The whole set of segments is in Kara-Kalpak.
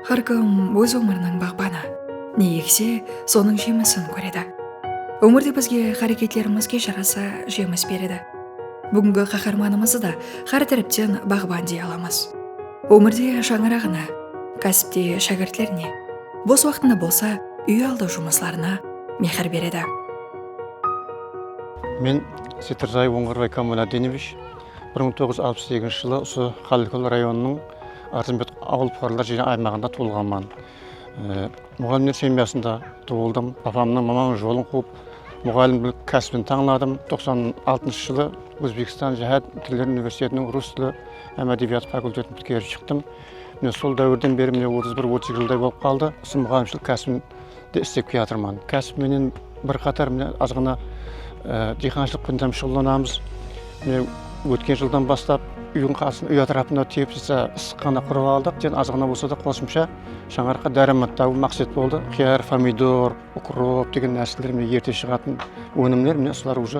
Hár kim óz ómiriniń baǵbanı. Ne ekse, sonıń jemisin kóredi. Ómirde bizge háreketlerimizge jarasa jemis beredi. Búgingi qaharmanımızdı da hár tárepten baǵban dey alamız. Ómirde shańaraǵına, kásipte shágirtlerine. Bos waqtında bolsa úy aldı jumıslarına mehir beredi. Men Setirjay Ońǵarǵay Kamaladdinevich bir mıń toǵız júz alpıs segizinshi jılı usı Qálikul rayonınıń Arzımbet awıl puqaralar jıynaǵı aymaǵında tuwılǵanman. Muǵallimler semyasında tuwıldım. Apamnıń mamanlıq jolın quwıp, muǵallimlik kásibin tańladım. Toqsan altınshı jılı Ózbekstan jáhát tilleri universitetiniń rus tili hám ádebiyatı fakultetin pitkerip shıqtım. Mine sol dáwirden beri mine otız bir otız eki jılday bolıp qaldı usı muǵayimshilik kásibimde istep kiyatırman. Kásip menen bir qatar mine azǵana diyqanshılıq penen ham shuǵıllanamız. Mine ótken jıldan baslap úydiń qarsın úy átirapında teplitsa ıssıqxana qurıp aldıq. Ten azǵana bolsa da qosımsha shańaraqqa dáramat tabıw maqset boldı. Qıyar, pomidor, ukrop degen nárseler mine erte shıǵatın ónimler mine usılar uje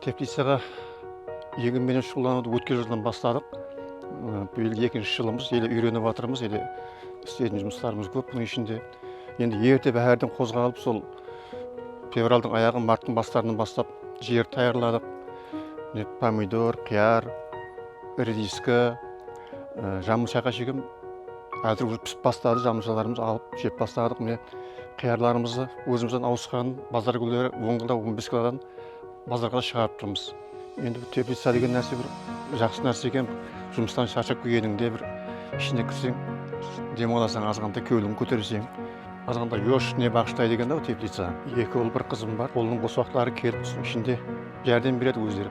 Teplicaǵa egin menen shuǵıllanıwdı ótken jıldan basladıq. Bıyıl ekinshi jılımız, ele úyrenip atırmız, ele isleytuǵın jumıslarımız kóp bunıń ishinde. Endi erte báhárden qozǵalıp, sol fevraldıń ayaǵı, marttıń baslarınan baslap jerdi tayarladıq. Mine pomidor, qıyar, rediska, jamınshayǵa shekem házir úje pisip basladı, jamınshalarımızdı alıp jep basladıq. Mine qıyarlarımızdı ózimizden awısqanın bazar kúnleri on kilo, on bes kilodan bazarǵada shıǵarıp turmız endi bul teplica degen nárse bir jaqsı nárse eken jumıstan sharshap kelgenińde bir ishine kirseń dem alasań azǵantay keuiliń koterseń azǵantay yosh ne baǵıshtaydı eken da bul teplica eki ul bir qızım bar qolınıń bos uaqıtları kelip usı ishinde járdem beredi ózleri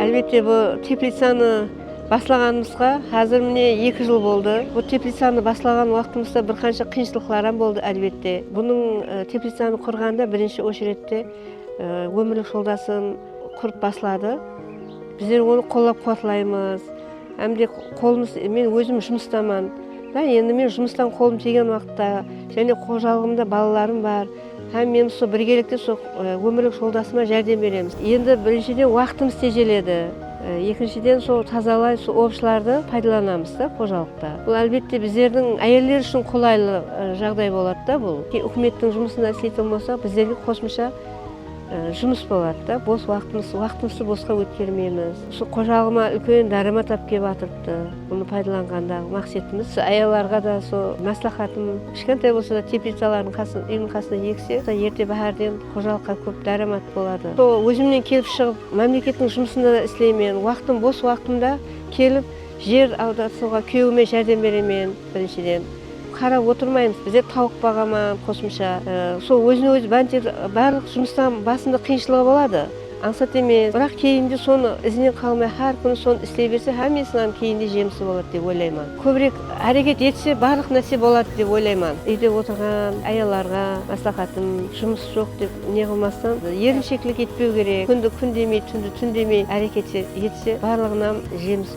Álbette bul teplicanı baslaǵanımızǵa házir mine eki jıl boldı. Bul teplicanı baslaǵan waqtımızda bir qansha qıyınshılıqlaram boldı álbette. Bunıń teplicanı qurǵanda birinshi ochrette ómirlik joldasım, Kurıp basladı. Bizler onı qollap quwatlaymız. Hám de qolımız men ózim jumıstaman dá endi men jumıstan qolım tiygen waqıtta jáne xojalıǵımda balalarım bar hám men usı birgelikte usı ómirlik joldasıma járdem beremiz. Endi birinshiden waqıtımız tejeledi. Ekinshiden sol tazalay usı ovshılardı paydalanamız dá xojalıqta. Bul álbette bizlerdiń áyeller ushın qolaylı jaǵday boladı dá bul. Úkimettiń jumısında isleytuǵın bolsaq bizlerge qosımsha Jumıs boladı da, bos waqıtımız, waqıtımızdı bosqa ótkermeymiz. Usı xojalıǵıma úlken dáramat alıp kelip atırıptı. Bunı paydalanǵandaǵı maqsetimiz, usı ayallarǵa da usı másláxatım, kishkentay bolsa da teplicalardıń qasında, úyiniń qasında ekse, erte báhárden xojalıqqa kóp dáramat boladı. Sol ózimnen kelip shıǵıp, mámlekettiń jumısında da isleymen, waqıtım, bos waqıtımda kelip jer awdasıwǵa kúyewime járdem beremen birinshiden. Qarap otırmaymız bize tauıq baǵama qosımsha sol ózine ózi banter barlıq jumıstan basında qıyınshılıǵı boladı ańsat emes biraq keyinde sonı izinen qalmay xár kúni sonı isley berse hámmesiniń keyinde jemisi boladı dep oylayman kóbirek háreket etse barlıq nárse boladı dep oylayman úyde otırǵan ayallarǵa maslaxatım jumıs joq dep neqılmastan erinsheklik etpeu kerek kúndi kún demey túndi tún demey háreket etse barlıǵınam jemisi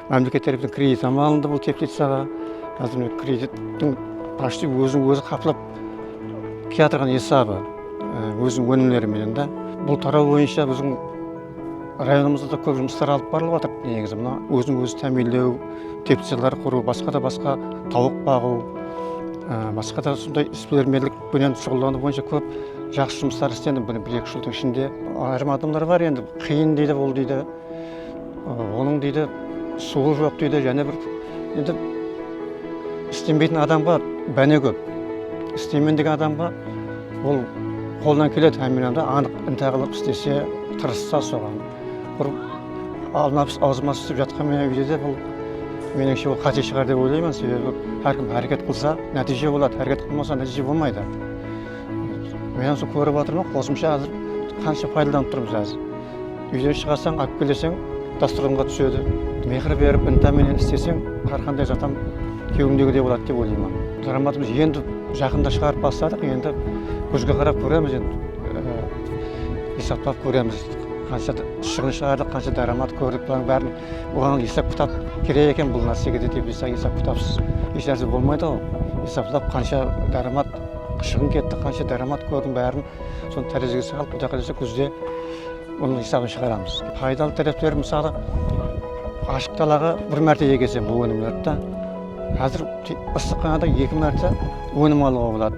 Mámleket tárepinen kredit ham alındı bul teplitsaǵa. Házir mine kredittiń pochti ózin ózi qaplap kiyatırǵan esabı óziniń ónimleri menen da. Bul taraw boyınsha biziń rayonımızda da kóp jumıslar alıp barılıp atır negizi mına ózin ózi támiyinlew teplitsalar qurıw basqa da basqa tawıq baǵıw basqa da usınday isbilermenlik penen shuǵıllanaw boyınsha kóp jaqsı jumıslar islendi bir eki jıldıń ishinde ayırım adamlar bar endi qıyın deydi bul deydi Onıń deydi suwı joq deydi jáne bir endi islenbeytin adamǵa báne kóp isleymen degen adamǵa ol qolından keledi hámmelerdi anıq intá qılıp islese tırıssa soǵan bir almabıs awzıma túsip jatqan menen úyde de bul menińshe ol qáte shıǵar dep oylayman sebebi hár kim háreket qılsa nátiyje boladı háreket qılmasa nátiyje bolmaydı men usı kórip atırman qosımsha házir qansha paydalanıp turmız házir Úyden shıǵasań, alıp keleseń, dastırxanǵa túsedi. Mehir berip, inta menen isleseń, hár qanday zatam kewińdegidey boladı dep oylayman. Daramatımız endi jaqında shıǵarıp basladıq, endi gúzge qarap kóremiz, endi esaplap kóremiz, qansha shıǵın shıǵardıq, qansha daramat kórdik, bulardıń bárin buǵan esap kitap kerek eken bul nársege de dep esap kitapsız esh nárse bolmaydı ǵo, esaplap qansha daramat shıǵın ketti, qansha daramat kórdim bárin. Sonı tárezige salıp, Quday qalasa kúzde bunıń esabın shıǵaramız. Paydalı tárepleri mısalı, ashıq dalaǵa bir márte egeseń bul ónimlerdi da, házir ıssıqxanada eki márte ónim alıwǵa boladı.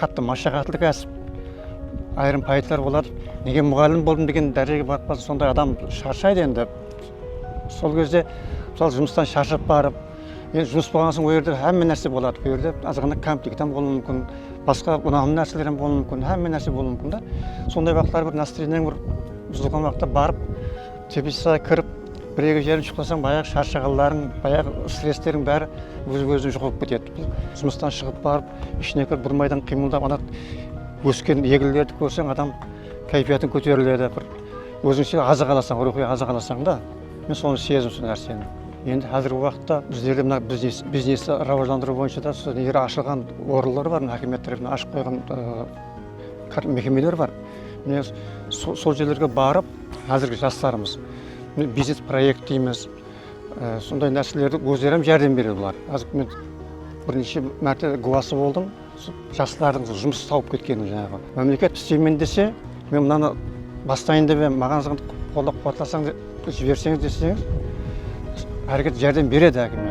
Qattı mashaqatlı kásip, ayırım payıtlar boladı. Nege muǵallim boldım degen dárejege barıp qalsa, sonday adam sharshaydı endi. Sol gezde mısalı jumıstan sharshap barıp, endi jumıs bolǵannan soń, ol jerde hámme nárse boladı. Bul jerde azǵana kamtik tam bolıwı múmkin, basqa unamlı nárseler ham bolıwı múmkin, hámme nárse bolıwı múmkin da. Sonday waqıtları bir nastreniyań bir buzılǵan waqıtta barıp, teplitsada kirip, bir-eki járim shıqlasań, bayaǵı sharshaǵanlarıń, bayaǵı stressleriń bári óz-ózine joǵalıp ketedi. Jumıstan shıǵıp barıp, ishine kirip bir maydań qıymıldap ana ósken eginlerdi kórseń adam káypiyatıń kóteriledi bir ózińshe azıq alasań ruwxıy azıq alasań da men sonı sezdim usı nárseni endi xázirgi waqıtta bizlerde mına biznes biznesti rawajlandırıw boyınsha da usı neri ashılǵan orınlar bar mına hákimiyat tárepinen ashıp qoyǵan mekemeler bar mine sol jerlerge barıp xázirgi jaslarımız mine biznes proekt deymiz Sonday nárselerde ózlerem járdem beredi bular. Azir men bir neshe márte guwası boldım, jaslardıń jumıs tawıp ketkenine janaǵı. Mámleket isteymen dese, men mınanı bastayın dep em, maǵan zıǵınt qollap-quwatlasańız, jiberseńiz deseńiz, háreket járdem beredi hákime.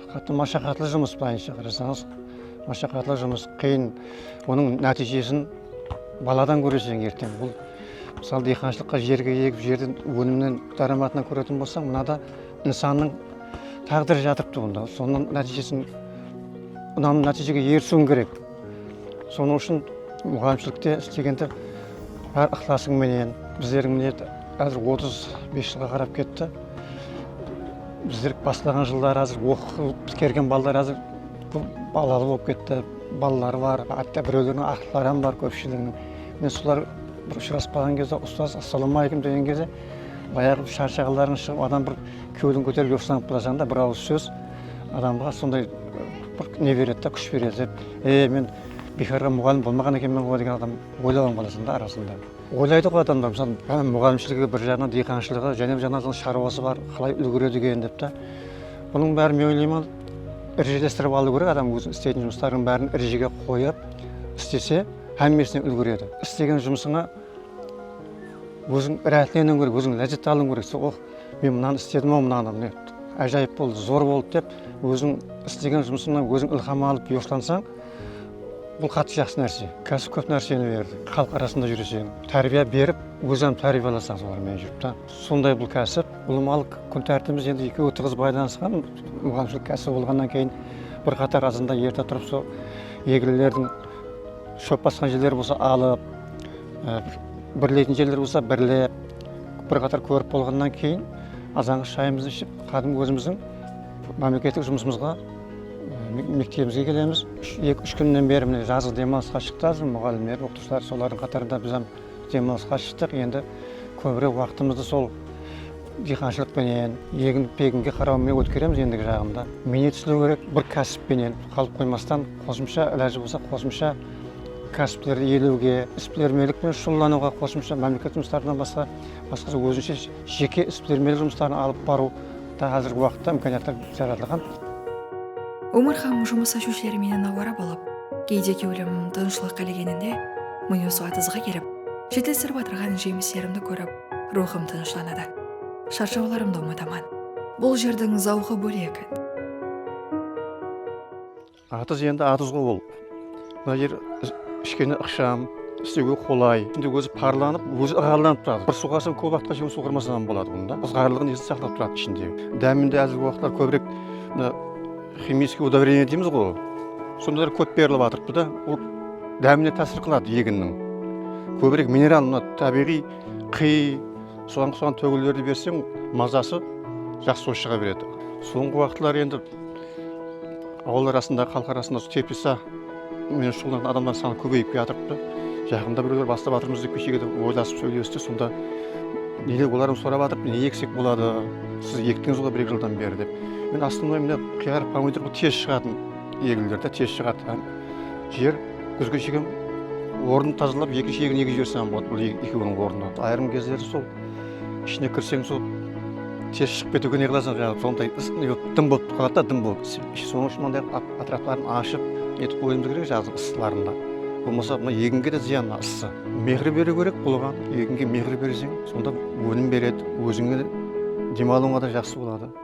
Qátti mashaqatlı jumıs bılayınsha qarasańız mashaqatlı jumıs qıyın onıń nátiyjesin baladan kóreseń erteń bul mısalı diyxanshılıqqa jerge egip jerden ónimnen dáramatına kóretuǵın bolsań mınada insannıń táǵdiri jatırıptı bunda sonıń nátiyjesin unamlı nátiyjege erisiwiń kerek. Sonıń ushın muǵallimshilikte istegende bár ıqlasıń menen, bizlerdiń mine házir otız bes jılǵa qarap ketti. Bizler baslaǵan jılları házir oqıp pitkergen balalar házir kóp balalı bolıp ketti, balaları bar, hátte birewlerdiń aqıpları hám bar kópshiliginiń. Mine solar bir ushıraspaǵan gezde ustaz assalawma aleykum degen gezde bayaǵı sharshaǵanlarıń shıǵıp adam bir kewliń kóterip joqsılanıp barajaǵında bir awız sóz adamǵa sonday Bir ne beredi da kúsh beredi dep e men biykarǵa muǵallim bolmaǵan ekenmen ǵo degen adam oylap am qalasan da arasında oylaydı ǵo adamlar mısalı jáne muǵallimshiligi bir jaǵınan diyqanshılıǵı jáne bir jaǵınan sharuası bar qalay úlgeredi eken dep ta bunıń bárin men oylayman rejelestirip alıu kerek adam óziniń isteytuın jumıstarıń bárin rejege qoyıp istese hámmesine úlgeredi istegen jumısıńa óziń ráátleniuıń kerek óziń lázzet alıuıń kerek sen oh men mınanı istedim ау mınanı mine ájayıp boldı zor boldı dep Óziń islegen jumısıńnan óziń ilham alıp yoshlansań, bul qattı jaqsı nárse. Kásip kóp nárseni berdi. Xalıq arasında júreseń, tárbiya berip, óziń hám tárbiyalasań solar menen júrip ta. Sonday bul kásip. Ulıwmalıq kún tártibimiz endi ekewi tıǵız baylanısqan. Muǵallimshilik kásibi bolǵannan keyin bir qatar azanda erte turıp sol egrilerdiń shóp basqan jerleri bolsa alıp, birleytin jerler bolsa birlep, bir qatar kórip bolǵannan keyin azanǵa shayımızdı iship, Kádimgi ózimizdiń mámleketlik jumısımızǵa mektebimizge kelemiz. Eki úsh kúnnen beri mine jazǵı demalısqa shıqtı házir muǵallimler, oqıtıwshılar solardıń qatarında biz hám demalısqa shıqtıq. Endi kóbirek waqtımızdı sol diyqanshılıq penen, egin peginge qaraw menen ótkeremiz endigi jaǵında. Miynet islew kerek, bir kásip penen qalıp qoymastan qosımsha ilajı bolsa qosımsha kásiplerdi iyelewge, isbilermenlik penen shuǵıllanıwǵa qosımsha mámleketimiz tarapınan basqa basqacha ózinshe Jeke isbilermenlik jumısların alıp barıw da házirgi waqıtta imkaniyatlar jaratılǵan. Ómir hám jumıs ashıwshileri meni nawara bolıp, geyde kewlim tınıshlıq qálegeninde, mıyı suwa tızǵı kelip, jetilstirip atırǵan jemislerimdi kórip, ruwxım tınıshlanadı. Sharshawlarımdı umıtaman. Bul jerdiń zawqı bólek. Atız endi atızǵo ol. Mına jer kishkene ıqsham, istewge qolay. Şimdi ózi parlanıp, ózi ıǵarlanıp turadı. Bir suǵarsań kóp uaqıtqa shekem suǵarmasań ham boladı bunı da. Izǵarlıǵın esli saqlap turadı ishinde. Dáminde házirgi uaqıtlar kóbirek mına ximiyskiy udovrenie deymizǵo, sondalar kóp berilip atırıptı da. Ol dámine tásir qıladı eginniń. Kóbirek mineral mına tábiyǵıy qıy, soǵan soǵan tógillerdi berseń mazası jaqsı bolıp shıǵa beredi. Sońǵı uaqıtlar endi. Awıllar arasındaǵı, xalıq arasında usı teplisa menen shuǵıllanatuǵın adamlar sanı kóbeyip kiyatırıptı. Jaqında birewler bastap atırmız dep keshege de oylasıp sóylesti. Sonda neler bolarım sorap atırıptı, ne eksek boladı, siz ektińiz ǵoy bir-eki jıldan beri dep. Men astınday mine qıyar, pomidor bul tez shıǵatın egilir de, tez shıǵadı hám jer gúzge shekem ornın tazalap ekinshi egin egip jibersen bolıp bul ekeuiniń ornına. Ayırım gezleri sol. Ishine kirseń sol ters shıǵıp ketiwge neqılasıń jaǵı sonday ıs dım bolıp qaladı da dım bolıp sonıń ushın mınday qılıp atrapların ashıp netip qoyuımız kerek jaǵdın ıslarında bolmasa mına eginge de zıyan mına ısı mexir beriw kerek oǵan eginge mexir berseń sonda ónim beredi ózińe de dem alıwıńa da jaqsı boladı.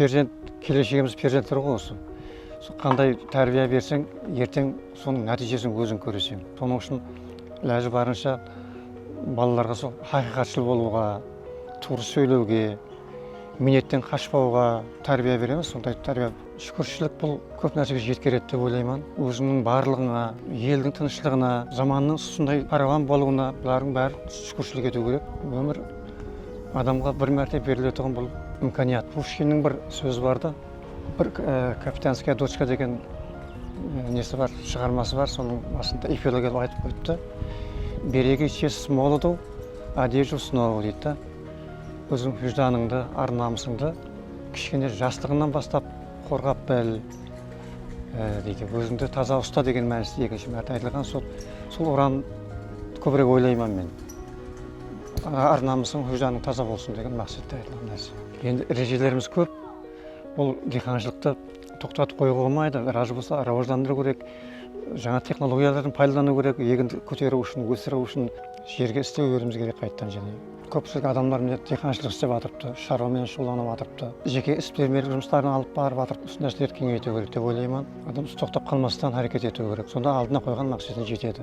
Perzent keleshegimiz perzentler ǵoy osı sol qanday tárbiya berseń erteń sonıń nátiyjesin óziń kóreseń sonıń ushın ilajı barınsha balalarǵa sol haqıyqatshıl bolıwǵa tuwrı sóylewge miynetten qashpawǵa tárbiya beremiz sonday tárbiya shúkirshilik bul kóp nársege jetkeredi dep oylayman ózińniń barlıǵıńa eldiń tınıshlıǵına zamannıń usınday parawan bolıwına bulardıń bári shúkirshilik etiw kerek ómir Adamǵa bir márte beriletuǵın bul imkaniyat. Pushkinniń bir sózi bar da, bir kapitanskaya dochka degen nesi bar, shıǵarması bar, sonıń basında epilogi etip aytıp qoyıptı, Beregí čest molodu, a deju snovu deydi da. Óziń hújdanıńdı, ar namısıńdı kishkene jaslıǵıńnan baslap qorǵap bil deydi. Ózińdi taza usta degen mánisi ekinshi márte aytılǵan, sol uran kóbirek oylayman men. Ar-namısıń, hújjanıń taza bolsın degen maqsette aytılǵan nárse. Endi rejelerimiz kóp. Bul diyqanshılıqtı toqtatıp qoyıwǵa bolmaydı. Razı bolsa rawajlandırıw kerek. Jańa texnologiyalardan paydalanıw kerek. Eginді kóteriw ushın, ósiriw ushın jerge isleu beriwimiz kerek qaytadan jáne. Kópshilik adamlar mine diyqanshılıq islep atırıptı, sharwa menen shuǵıllanıp atırıptı. Jeke isbilermenlik jumısların alıp barıp atırıptı. Usı nárselerdi keńeytiw kerek dep oylayman. Adam usı toqtap qalmastan háreket etiw kerek. Sonda aldına qoyǵan maqsetine jetedi.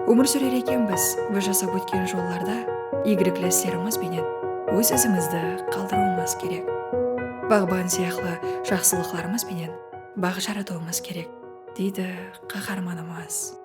Ómir súrer ekenbiz biz jasap ótken jollarda iygilikli islerimiz benen óz izimizdi qaldırıwımız kerek. Baǵban sıyaqlı jaqsılıqlarımız benen baǵ jaratıwımız kerek, deydi qaharmanımız.